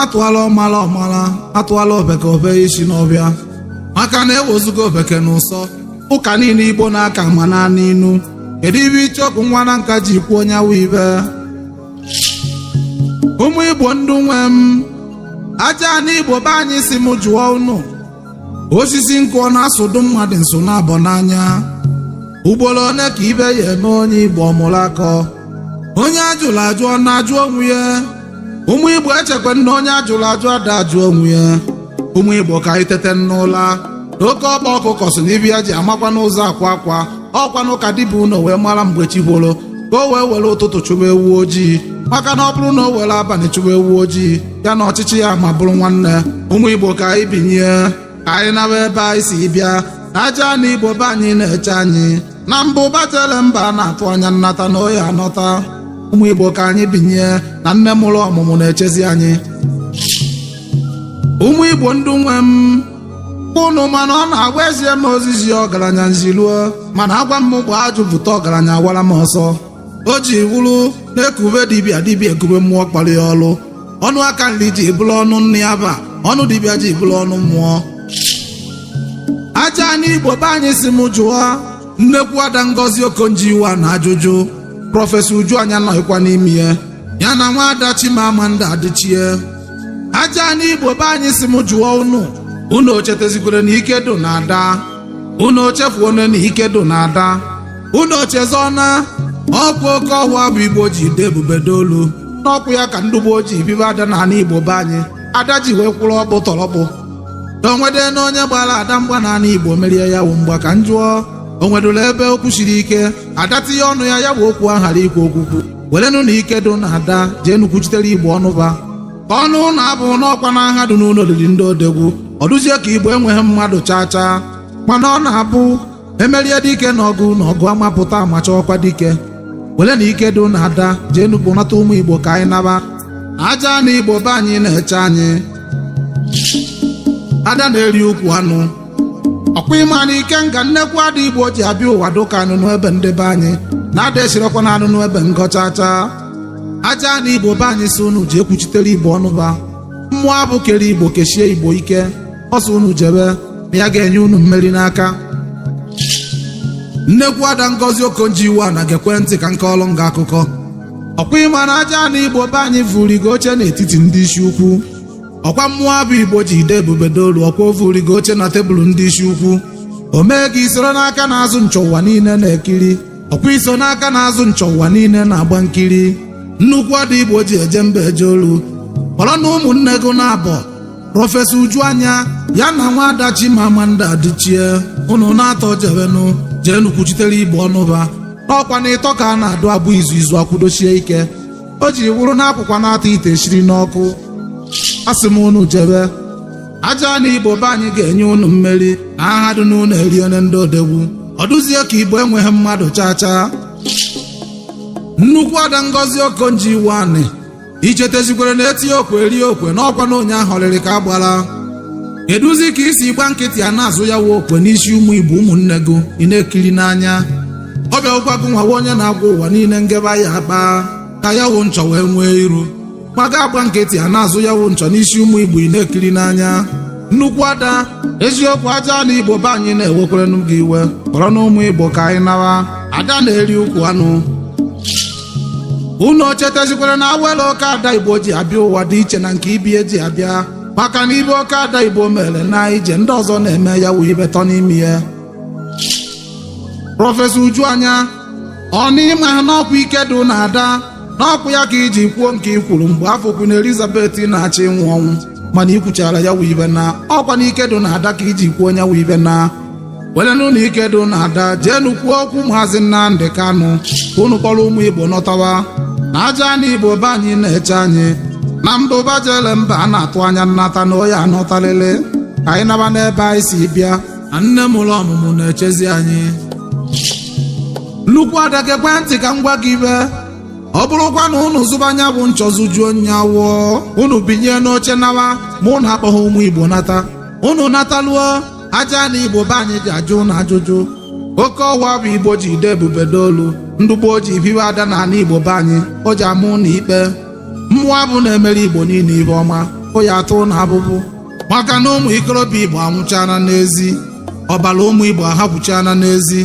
atụala ọmala ọmala atụala ofeke o fee isi n'ọfịa maka na ewezuga ofeke na ụsọ ụka niile igbo na-aka ma naanị inu kedu ife icheoku nwa na nka ji kwuo onye awụ ibe ụmụ igbo ndụ nwe m aja anị igbo be anyị sị m jụọ unu osisi nkụ ọ na-asụdụ mmadụ nsụ naabọ n'anya ugboro one ka ife ya-eme onye igbo ọ mụrụ akọ onye ajụrụ ajụ ọ na-ajụ onwe ya ụmụ igbo echekwa m na onye ajụrụ ajụ ada ajụ onwe ya ụmụ igbo ka anyị tete n'ụla na oke ọkpa ọkụkọ sị na ife ya ji amakwanụ ụzọ akwa akwa ọkwanụ ka di bi ụnọ wee mara mgbe chi foro ka o wee were ụtụtụ chụba ewu ojii maka na ọ bụrụ na o were abalị chụba ewu ojii ya na ọchịchị ya ma bụrụ nwanne ụmụ igbo ka anyị binie ka anyị nawa ebe anyị si bịa na aja anị igbo be anyị na-eche anyị na mbụ batele mba a na-atụ anya nnata na ọ ya-anata ụmụ igbo ka anyị binie na nne mụrụ ọmụmụ na-echezi anyị ụmụ igbo ndụ nwe m unu ma na ọ na-awụ ezie m ozi zie ọgaranya m ziruo mana agwa m fụa ajụ bute ọgaranya awara m ọsọ o ji wụrụ na ekube dibịa dibịa ekube mmụọ kpara ya ọlụ ọnụ aka nri ji bụrụ ọnụ nne ya ba ọnụ dibịa ji bụrụ ọnụ mmụọ aja anị igbo be anyị sị m jụọ nnekwu ada ngozi okonjo iweala ajụjụ prọfesọ uju anya nọghịkwa n'ime ya ya na nwa ada chimamanda adichie aja anị igbo be anyị sị m jụọ unu unu ochetezikwere na ike dụ na ada unu ochefuone na ike dụ na ada unu ochezọna ọkwa oke ọhụa bụ igbo ji de ebube dolu n'ọkwa ya ka ndị gboo ji bibe ada na anị igbo be anyị ada ji wee kwụrụ ọkpụtọrọkpụ na onwede na onye gbara ada mgba na anị igbo merie ya wụ mgba ka m jụọ o nwedụla ebe okwu siri ike ada tinye ọnụ ya ya bụ okwu ahara ikwu okwukwu werenụ na ike dụ na ada jeenụ kwuchitere igbo ọnụba ka ọnụ ụlọ abụ n'ọkwa na aha dị n'ụlọ olili ndị odegwu ọ dụzie ka igbo enweghị mmadụ chaa chaa mana ọ na-abụ emerie dike na ọgụ ụnọ ọgụ ama pụta a ma achọkwa dike werenụ ike dụ na ada jeenụ kpọnata ụmụ igbo ka anyị naba aja anị igbo be anyị na-eche anyị ada na-eri ukwu anụ ọkwa ịma na ike nga nnekwu ada igbo ji abịa ụwa dụka anụnụ ebe ndị be anyị na ada esirekwa na anụnụ ebe ngọ chaa chaa aja anị igbo be anyị sị unu jee kwuchitere igbo ọnụba mmụọ afụ kere igbo kesie igbo ike ọ sị unu jebe na ya ga-enye unu mmeri n'aka nnekwu ada ngozi okonjo iweala gekwe ntị ka m kọọlụ ngị akụkọ ọkwa ịma na aja anị igbo be anyị vurigo oche n'etiti ndị isi ukwu ọkwa mụwa bụ igbo ji ide ebube dolu ọkwa ofu rigo oche na tebụl ndị isi ukwu o mee gị isoro n'aka na-azụ nchọ ụwa niile na-ekiri ọkwa iso n'aka na-azụ nchọ ụwa niile na-agba nkiri nnukwu ada igbo ji eje mba eje olu kpọrọ na ụmụnne gị na-abọ prọfesọ uju anya ya na nwa ada chimamanda adichie unu na-atọ jewenụ jeenụ kwuchitere igbo ọnụ ba n'ọkwa na ịtọ ka a na-adụ abụ izu izu akwụdoshie ike o ji wụrụ na akwụkwa na-atọ ite eshiri n'ọkụ asị m unu jebe aja anị igbo be anyị ga-enye unu mmeri na aha dị n'ụlọ eriene ndị odogwu ọ dụzie ka igbo enweghị mmadụ chaa chaa nnukwu ada ngozi okonjo iweala i chetezikwere na etie okwe erie okwe n'ọkwa na onye ahọrịrị ka agbara kedụzi ka i si gba nkịtị a na-azụ ya wụ okwe n'isi ụmụ igbo ụmụnne gị ị na-ekiri n'anya ọ bịakwụkwa gụnwa wụ onye na-agwa ụwa niile ngebe ya akpa aka ya wụ nchọ wee nwee iru ma gị agba nkịtị a na-azụ ya wụ nchọ n'isi ụmụ igbo ị na-ekiri n'anya nnukwu ada eziokwu aja anị igbo be anyị na-ewekwerenụ gị iwe kpọrọ na ụmụ igbo ka anyị nawa ada na-eri ukwu anụ unu chetezikwere na awele oke ada igbo ji abịa ụwa dị iche na nke ibe ya ji abịa maka na ibe oke ada igbo mere na ije ndị ọzọ na-eme ya wụ ibe tọ n'ime ya prọfesọ uju anya ọ na ị maha n'ọkwa ike dị na ada n'ọkwa ya ka i ji kwuo nke i kwuru mgbe afụ queen elizabeth na-achọ ịnwụ ọnwụ mana i kwuchara ya wụ ibe na ọkwa na ike dị na ada ka i ji kwuo nya wụ ibe na werenụ ike dị na ada jeenụ kwuo okwu maazị nnamdị kanụ ka unu kpọrọ ụmụ igbo nọtawa na aja anị igbo be anyị na-eche anyị na mbụba jele mba a na-atụ anya nnata na ọ ya anọtalele ka anyị naba n'ebe anyị si bịa na nne mụrụ ọmụmụ na-echezi anyị nnukwu ada gekwe ntị ka m gwa gị ibe ọ bụrụkwa na unu zụba nya bụ nchọ zụjuo nya afọ unu binye n'oche nawa ma unu akpọghị ụmụ igbo nata unu nataluo aja anị igbo be anyị ja-ajụ unu ajụjụ ọkwa mụwa bụ igbo ji ide ebube dolu ndị igbo ji biwe ada na ala igbo be anyị o ji amụ na ikpe mụwa bụ na-emere igbo niile ihe ọma o ya atụ na abụbụ maka na ụmụ ikorobịa igbo anwụchana n'ezi ọbara ụmụ igbo ahapụchana n'ezi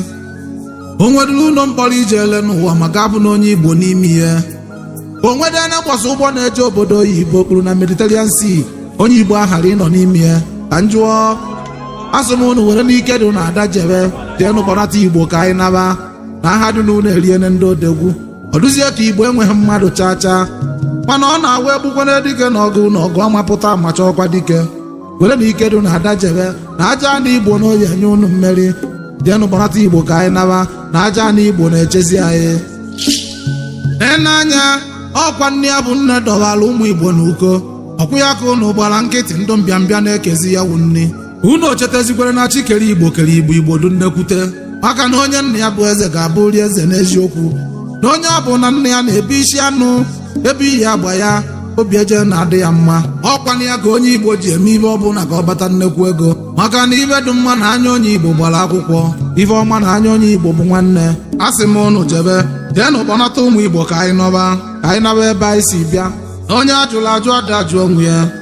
o nwedịrị ụlọ mkpọrọ i jele n'ụwa ma gị afụna onye igbo n'ime ya o nwedị ebe a sị ụgbọ na-eje obodo oyibo kpuru na mediterranean sea onye igbo aghara ịnọ n'ime ya ka m jụọ asị m unu were n'ike dị na ada jebe jeenụ kpọnata igbo ka anyị naba na aha dị n'ụnọ eriene ndị odogwu ọ dụzie ka igbo enweghị mmadụ chaa chaa mana ọ na-awa egbukwana dike na ọgụ ụnọ ọgụ ama pụta a ma chọkwa dike were na ike dị na ada jebe na ajana igbo na ọ ya-enye unu mmeri jeenụ kpọnata igbo ka anyị naba na ajana igbo na-echezi anyị n'anya ọkwa nni ya bụ nne dọbara ụmụ igbo na uko ọkụ ya ka unu gbara nkịtị ndụ mbịambịa na-ekezi ya wụ nni unu ochetazikwere na chi kere igbo kere igbo igbo dị nnekwute maka na onye nna ya bụ eze ga-abụrị eze n'eziokwu na onye ọbụna nna ya na-ebu isi anụ ebe iyi agba ya obi eje na-adị ya mma ọkwanụ ya ka onye igbo ji eme ife ọbụla ka ọ kpata nnekwu ego maka na ife dị mma na anya onye igbo gbara akwụkwọ ife ọma na anya onye igbo bụ nwanne a sị m unu jebe jeenụ kpọnata ụmụ igbo ka anyị nọba ka anyị naba ebe anyị si bịa na onye a jụrụ ajụ ada ajụ onwe ya